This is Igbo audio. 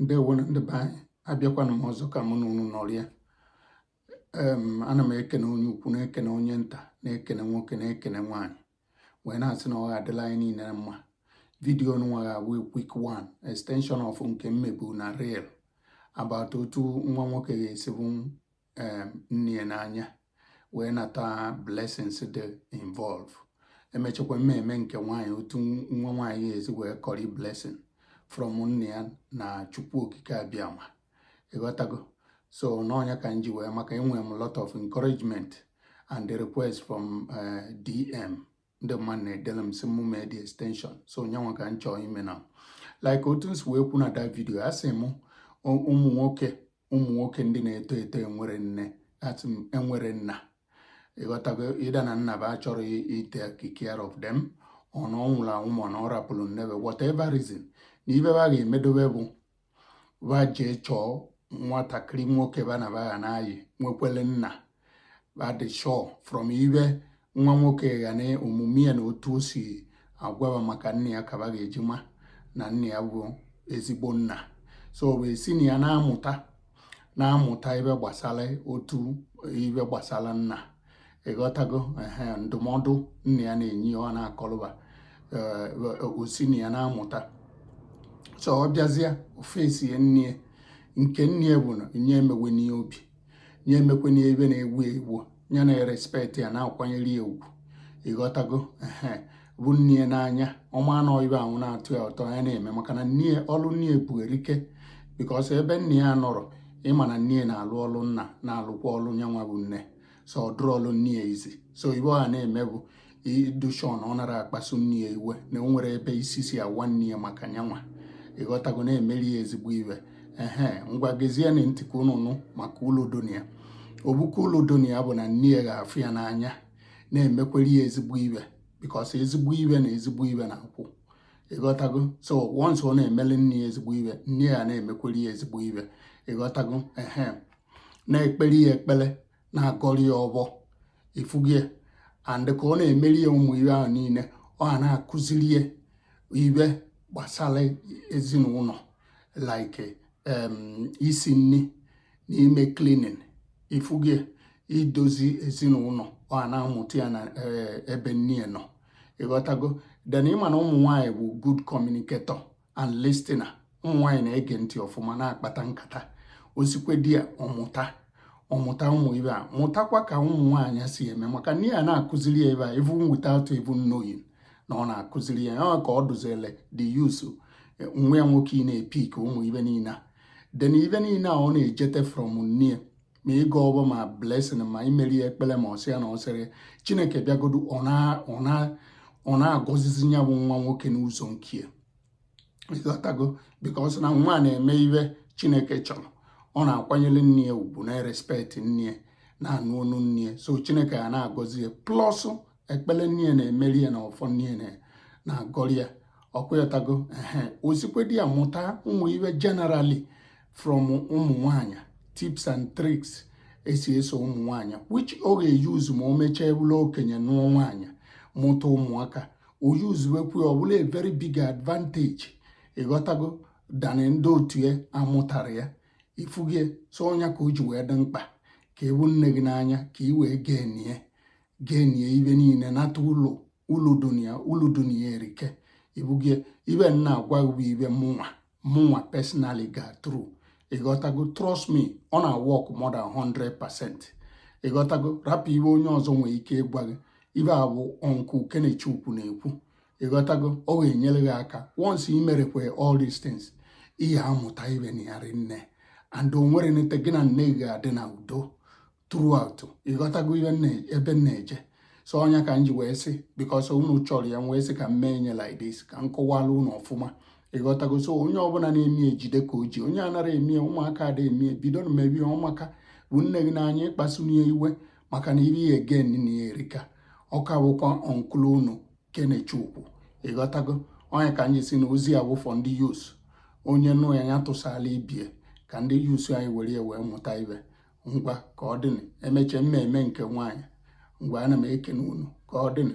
ndewonu ndị be anyị abịakwana m ọzọ ka mụ na unu nọrịa em ana m ekene onye ukwu na-ekene onye nta na-ekene nwoke na-ekene nwaanyị wee na-asị na ọ ga-adịlị anyị niile mma vidiyo nwa ga-abụ quick one extension of nke m mebu na reel about otu nwa nwoke ga-esi bụ um, nne ya n'anya wee nata blessings dị involve emechakwa m mee nke nwaanyị otu nwa nwaanyị ga-esi wee kọrị blessing from nne ya na chukwu okike abịama ịghọtago so n'ọ nya ka m ji wee maka enwere m lot of encouragement and the request from uh, dm ndị mmadụ na-edere m sị mụ mee the extension so nyanwa ka m chọọ ime na like otu m si wee kwu na that video asị m ụmụ nwoke ụmụ nwoke ndị na-eto eto enwerọ nne asị m enwerọ nna ịghọtago either na nna ba achọrọ ị take care of them or na ọ nwụrụ anwụ ma na ọ rapụrụ nne ba whatever reason na ibe ba ga-emedobe bụ ba jee chọọ nwatakịrị nwoke ba na ba na-ayị nwekwere nna ba dị sure from ibe nwa nwoke ya na omume ya na otu o si agwa ba maka nna ya ka ba ga-eji ma na nna ya bụ ezigbo nna so wee si na ya na-amụta na-amụta ibe gbasara otu ibe gbasara nna ịghọtago ehe ndụmọdụ nna ya na-enye ya ọ na-akọlụ ba eh, o si na ya na-amụta so ọ bịazie ofesi ya nne nke nne ya bụ na nye emewe n'ihe obi nye emekwe n'ebe na-egwu egwu ya na-respect ya na-akwanyere ya ugwu ịghọtago ehe bụ nne ya n'anya ọ ma na ibe ahụ na-atọ ya ụtọ ya na-eme maka na nne ọlụ nne ya bu erike because ebe nne ya nọrọ ịma na nne na-alụ ọlụ nna na-alụkwa ọlụ nyanwa bụ nne so ọ dịrọlụ nne ya easy so ibe ọ ya na-eme bụ ịdị sure na ọ narọ akpasu nne ya iwe na o nwerọ ebe isi si awa nne ya maka nyanwa ịghọtago na-emeri ya ezigbo ibe ehe ngwa gezienụ ntị ka unu nụ maka ulu dị na ya o buka ulu dị na ya bụ na nne ya ga-afụ ya n'anya na-emekwere ya ezigbo ibe because ezigbo ibe na ezigbo ibe na-akwụ ịghọtago so once ọ na-emeli nne ya ezigbo ibe nne ya na-emekwere ya ezigbo ibe ịghọtago ehe na-ekpere ya ekpere na-agọrị ya ọbọ ịfụgo ya and ka ọ na-emeri ya ụmụ ibe ahụ niile ọ ya na-akụziri ya ibe gbasara ezinụlọ like isi nri na ime cleaning ịfụgo ya idozi ezinụlọ ọ ya na-amụta ya na eh, ebe nne ya nọ ịghọtago then ịma na ụmụ nwaanyị bụ good communicator and listener ụmụ nwaanyị na-ege ntị ọfụma na-akpata nkata o sikwa there ọ mụta ọ mụta ụmụ ibe a mụtakwa ka ụmụ nwaanyị si eme maka nne ya na-akụziri ya ibe a even without even knowing na ọ na-akụziri ya ya ka ọ dụzile the youth eh, nwa ya nwoke ị na-epick ụmụ ibe niile a then ibe niile a ọ na-ejete from nne ma ịgọ ọfọ ma blessing ma imeri ya ekpere ma ọ sị ya na ọ sịrị chineke bịagodu ọ na-agọzizi ya bụ nwa nwoke n'ụzọ nke ịghọtago because na nwa na-eme ibe chineke chọrọ ọ na-akwanyere nne ya ugwu na-erespect nne ya na-anụ onu nne ya so chineke ya na-agọzi ya plus ekpere nne ya na-emeri ya na ọfọ nne ya na-agọrị ya ọkwa ịghọtago ehe o sikwa there mụta ụmụ ibe generally from ụmụ nwanyị tips and tricks e si eso ụmụ nwanyị which ọ ga-euse ma o mechaa bụlụ okenye nụọ nwanyị mụta ụmụaka o usewekwa ọ bụlụ a very big advantage ịghọtago than ndị otu ya amụtara ya ị fụgo ya so ọnya ka o ji wee dị mkpa ka ị fụ nne gị n'anya ka ị wee gainie gainie ibe niile nata ulu ulu dị na ya ulu dị na ya erika ị fụgo ya ibe m na-agwa bụ ibe mụnwa mụnwa personally ga through ịghọtago trust me ọ na-work more than 100 percent ịghọtago rapụ ibe onye ọzọ nwere ike ịgwa gị ibe a bụ uncle kenechukwu na-ekwu ịghọtago ọ ga-enyere gị aka once i merekwe all these things ị ya-amụta ibe na ya rinne and o nwere nete gị na nne gị ga-adị na udo throughout ịghọtago ihe ebe m na-eje so ọnya ka m ji wee sị because unu chọrọ ya wee sị ka m mee nye like this ka m kọwara unu ọfụma ịghọtago so onye ọbụla na-eme ejide ka o ji onye anara eme ụmụaka ada eme bido na-emebe ihe ọ maka fụ nne gị n'anya akpasuna ya iwe maka na ibe ị ya-egain na ya erika ọ ka bụkwa uncle unu kenechukwu ịghọtago ọ ya ka anyị sị na ozi a wụ for ndị youths onye nụ ya ya tụsala ibe ya ka ndị youths anyị were ya wee mụta ibe ngwa ka ọ dịnị emechaa m emee nke nwaanyị ngwa ana m ekene unu ka ọ dịnị